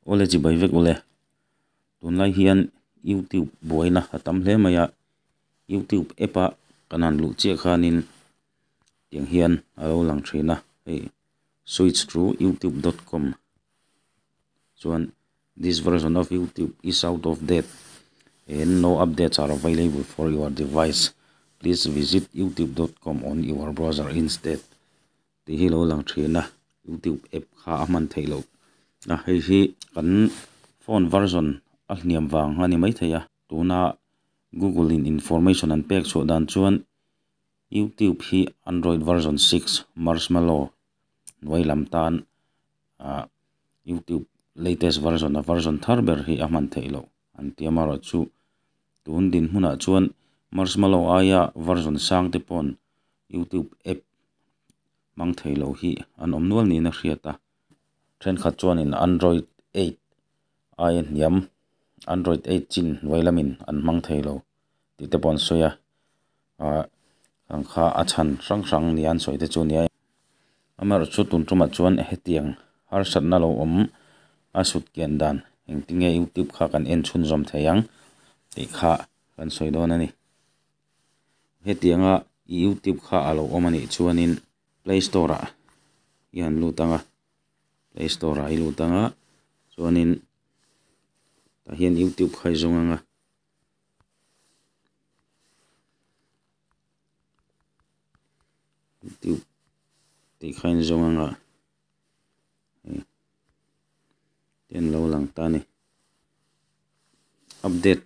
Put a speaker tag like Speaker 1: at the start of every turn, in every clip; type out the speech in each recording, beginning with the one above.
Speaker 1: Aw le chi bai vek ule. Tunlai hian YouTube buaina a tam hle mai a, YouTube app a kan han luh chiah khanin tiang hian a lo lang thin a, hei switch to youtube dot com chuan this version of youtube is out of date and no updates are available for your device, please visit youtube dot com on your browser instead. tih hi lo lang thin a youtube app kha a hman theih loh a hei hi kan phone version a hniam vang a ni maithei a tuna google in information an pek chhuah dan chuan youtube hi android version six marshmallow hnuai lam tan ah youtube latest version a version thar ber hi a hman theih loh. an tia Mara chu. Tun dinhmunah chuan Marshmallow aia version sangte paw'n YouTube app hmang thei lo hi an awm nual niin a hriat a. Thenkhat chuanin Android eight aia hniam, Android eight chin vailamin an hmang thei lo tihte pawh an sawi a. Ahh ang kha a chhan hrang hrang nia an sawi te chu nia. Amer chu tun tumah chuan hetiang harsatna lo awm a sut kian dan engtinge youtube kha kan en chhunzawm thei ang tih kha kan sawi dawn a ni. Hetianga i youtube kha a lo awm a nih chuanin play store ah i han lut ang a, play store ah i lut ang a chuanin tah hian youtube kha i zawng ang a, duh tih kha in zawng anga hei an lo lang ta a ni update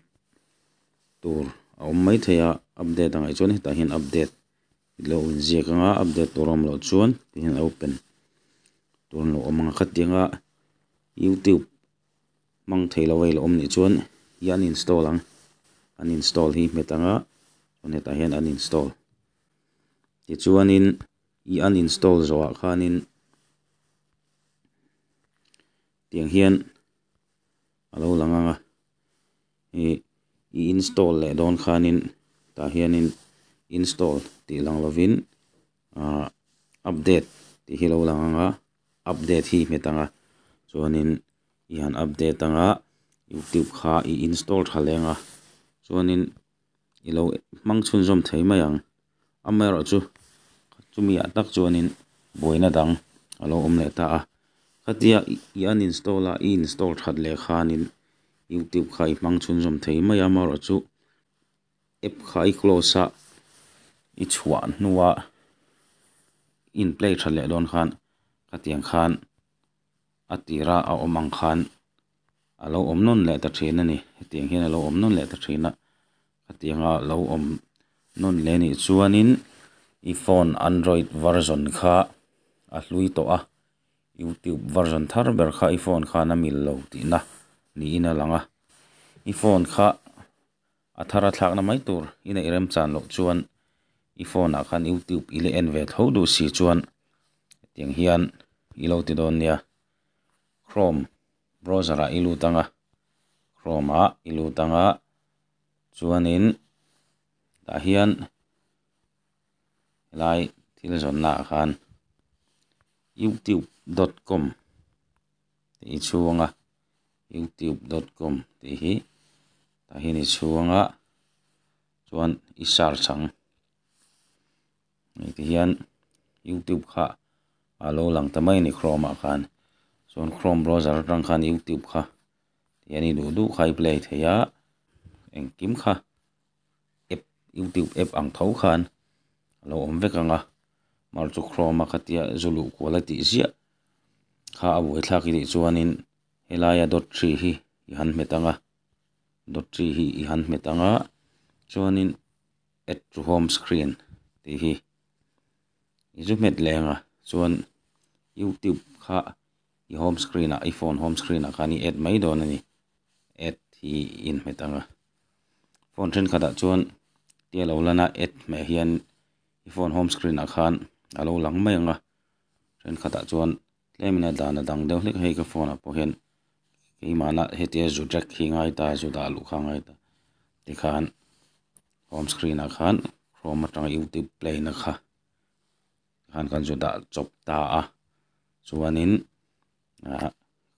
Speaker 1: tur a awm mai thei a update a ngaih chuan hetah hian update tih lo in ziak anga update tur a awm loh chuan tihian open tur a lo awm ang kha tianga youtube -- hmang thei lo vei la awm nih chuan i uninstall ang uninstall hi hmet ang a chuan hetah hian uninstall tichuanin i uninstall zawhah khanin tiang hian a lo lang ang a i install leh dawn khanin tah hianin install tih lang lovin ah update tih hi lo lang ang a. Update hi hmet anga chuanin i han update ang a, YouTube kha i install tha leh ang a, chuanin i lo hmang chhunzawm thei mai ang, amaerawh chu chumiah tak chuanin buaina dang a lo awm leh ta a, khatia i uninstall a i install that leh khanin YouTube kha i hmang chhunzawm thei mai a, amaherawhchu. App kha i close a, i chhuah hnua in play tha leh dawn khan khatiang khan a tira a awm ang khan a lo awm nawn leh ta thin a ni, hetiang hian a lo awm nawn leh ta thin a, khatiang a lo awm nawn leh nih chuanin i phone android version kha a hlui tawh a, youtube version thar ber kha i phone khan a mil lo tihna niin a lang a, i phone kha. A thar a thlakna mai tur i neih rem chan loh chuan i phone ah khan youtube i la en ve tho duh si chuan hetiang hian i lo ti dawn nia chrome browser ah i lut anga chrome ah i lut anga chuanin tah hian helai thil zawnna ah khan youtube dot com tih i chhung a, youtube dot com tih hi tah hian i chhung a, chuan i search ang engti hian youtube kha a lo lang ta mai a ni chrome ah khan, chuan chrome browser atang khan youtube kha tih an i duh duh kha a i play thei a, engkim kha. app youtube app ang tho khan a lo awm vek ang a mar chu chrome a khatia zuluh kuala tih ziah kha a uai thlak itih chuanin helaia dawt hri hi i han hmet ang a dawt hri hi i han hmet ang a chuanin add to home screen tih hi i zu hmet leh angah chuan youtube kha-- I home screen ah, iPhone home screen ah khan i add mai dawn a ni. Add hi i in hmet ang a. Phone thenkhat ah chuan tia lo lan a, add hmeh hian i phone home screen ah khan a lo lang mai ang a. Thenkhat ah chuan tlem in a dan a dang deuh hlek a, hei ka phone ah pawh hian keimahna hetia zu drag hi a ngai ta, zu dah luh kha a ngai ta. Tikhan home screen ah khan Chrome atanga YouTube plain a kha Tikhan kan zu dah chawp ta a, chuanin ah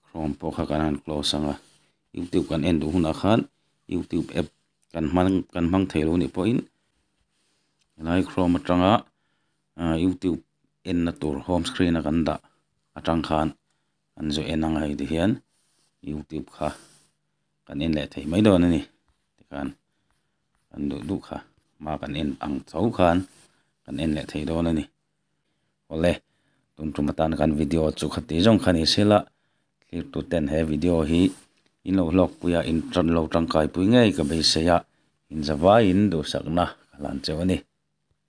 Speaker 1: Chrome pawh kha kan han close ang a, YouTube kan en duh hunah khan YouTube app kan hmang kan hmang thei loh anih pawhin helai Chrome atanga ah YouTube enna tur home screen a kan dah atang khan kan zu en ang a, hei tihian YouTube kha kan en leh thei mai dawn a ni tikhan. kan duh duh kha ma kan en ang cho khan kan en leh thei dawn a ni awle tun tum atan kan video chu kha ti zawng kha ni se la thlir tu ten he video hi in lo hlawk pui a in lo tangkai pui ngei ka beisei a inzavaiin duhsak na ka hlan cheu a ni.